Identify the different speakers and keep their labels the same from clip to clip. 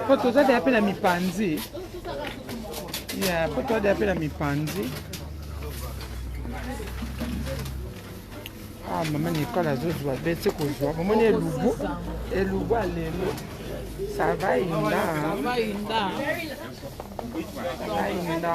Speaker 1: po toza deya mpe na mipanzi ya po toza deya mpe na mipanzi ah mama nikole azozwa be ti kozwa momoni elubu elubu ya lelo sava inda inda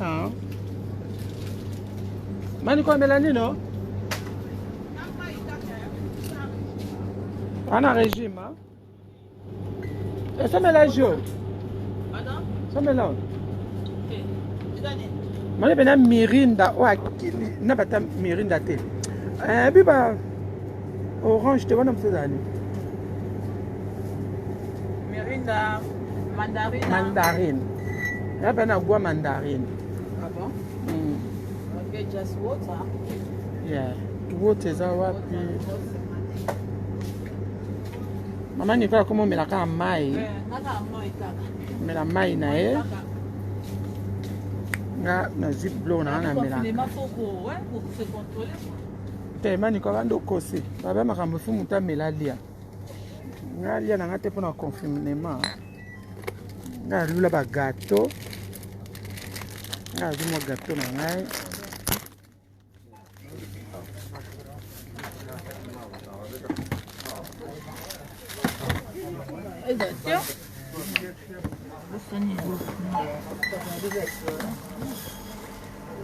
Speaker 1: Ah. Mani kwa Melanie no? Ana regime hein? Et ça mélange yo? Pardon? Ça mélange. Mani bena mirinda oyo akili na bata mirinda te. Eh biba Orange te wana mosusu ezali.
Speaker 2: Mirinda mandarine.
Speaker 1: Mandarine. Là ben à goût mandarine.
Speaker 2: Ah bon? Mm. Okay, just
Speaker 1: water. Yeah. Water eza wapi? Mama Nicola koma omela kaka mai. Eh, kaka mai kaka. Omela mai na ye. Nga nazwi blo na nga na melaka.
Speaker 2: te
Speaker 1: maniko abandi okosi baba makambo efu moto amela alia nga alia na nga te mpo na confinement nga alula bagato nga azwi mwa gato na ngai Is that still?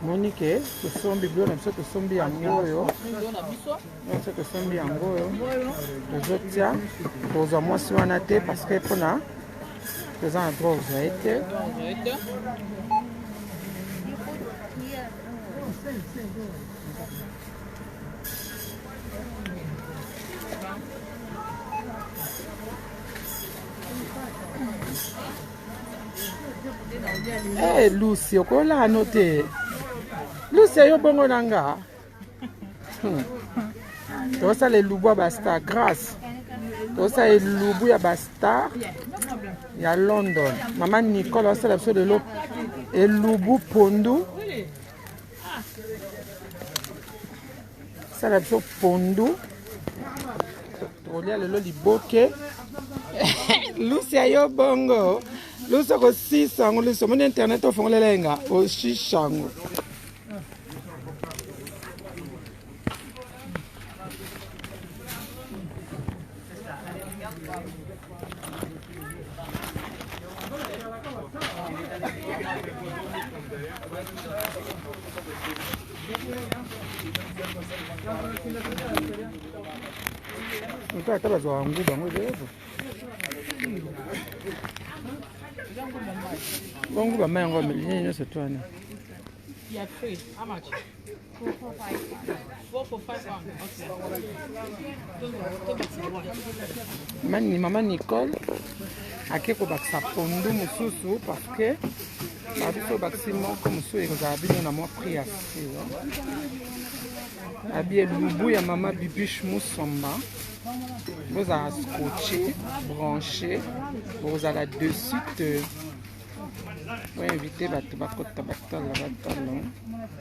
Speaker 1: monike tosombi bilo na biso tosombi yango oyo biso tosombi yango oyo tozotya tozwa mwasi wana te parce que mpona toza na droit ozwa ye te Hey, eh, Lucy, okola ano te. Lucy yo bongo na nga. Hmm. Tosala elubu ya bastar grace. Tosala elubu ya bastar ya London. Mama Nicole asala biso lelo elubu pondu. sala biso pondu tokolia lelo liboke lusi ayo bongo lusi okosisa yango lusi omoni internet ofongolela ye nga oshisha yango Nta ata bazwa yango bango ezo bango bama yango ameli nyonso twana mani mama nicole ake kobakisa pondu mosusu parce que babiso obakisi moko mosusu ekozala bino na mwa prix ya silo abi elubu ya mama bibiche musomba bozala scotche branche bokozala de suite euh, oinvite bato bakota batala batala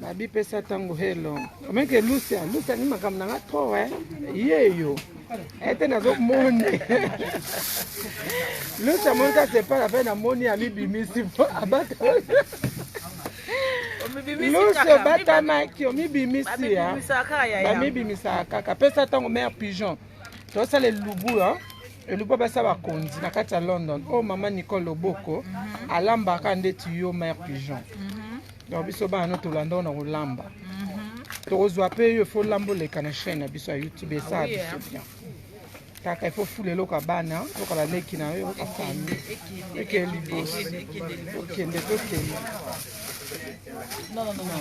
Speaker 1: Babi pesa tango hello. Omeke Lucia, Lucia ni makambo na nga trop eh. Yeyo. Ete nazo moni. Lucia mon ka se pala pe na moni ami bimisi po abata. Lucia bata maki omi bimisi ya. Ba mi bimisa kaka. Pesa tango mère pigeon. To sale lubu hein. eluba basa bakonzi na kati ya london oyo oh, mama nicole loboko mhm. alambaka ndeti yo mare pigeon mhm. donc biso bana no tolanda ona kolamba mhm. tokozwa mpe yo ifo lamba oleka na chaîne na biso ya youtube esala ah biso eh. bien kaka ifo fula eloko ya bana loka baleki na yo yoka fami eke liboso okende tokende No, no, no, no.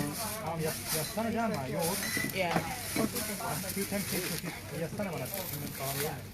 Speaker 1: Um, ja, ja stannar gärna, jag också. Yeah. You can take it. Jag
Speaker 2: stannar bara.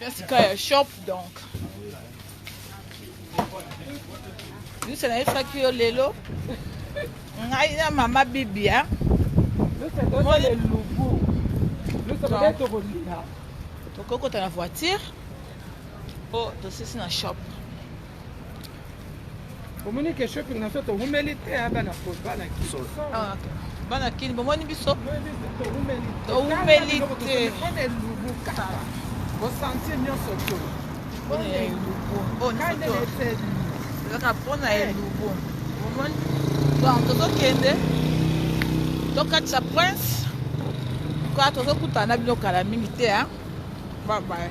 Speaker 2: Jessica ya shop donc lusa nayebisaki yo lelo ngai na mama bibia
Speaker 1: tokokota
Speaker 2: na voiture mpo tosisi na shop
Speaker 1: omoni ke shopping na biso toumeli te ya bana bana kiso ah,
Speaker 2: bana kini bomoni biso toumeli
Speaker 1: te bosantie nyonso to mpona
Speaker 2: elubu ezaka mpona elubu omoni donc tozokende tokatisa prince kwa tozokutana na bino kala mingi te a babaye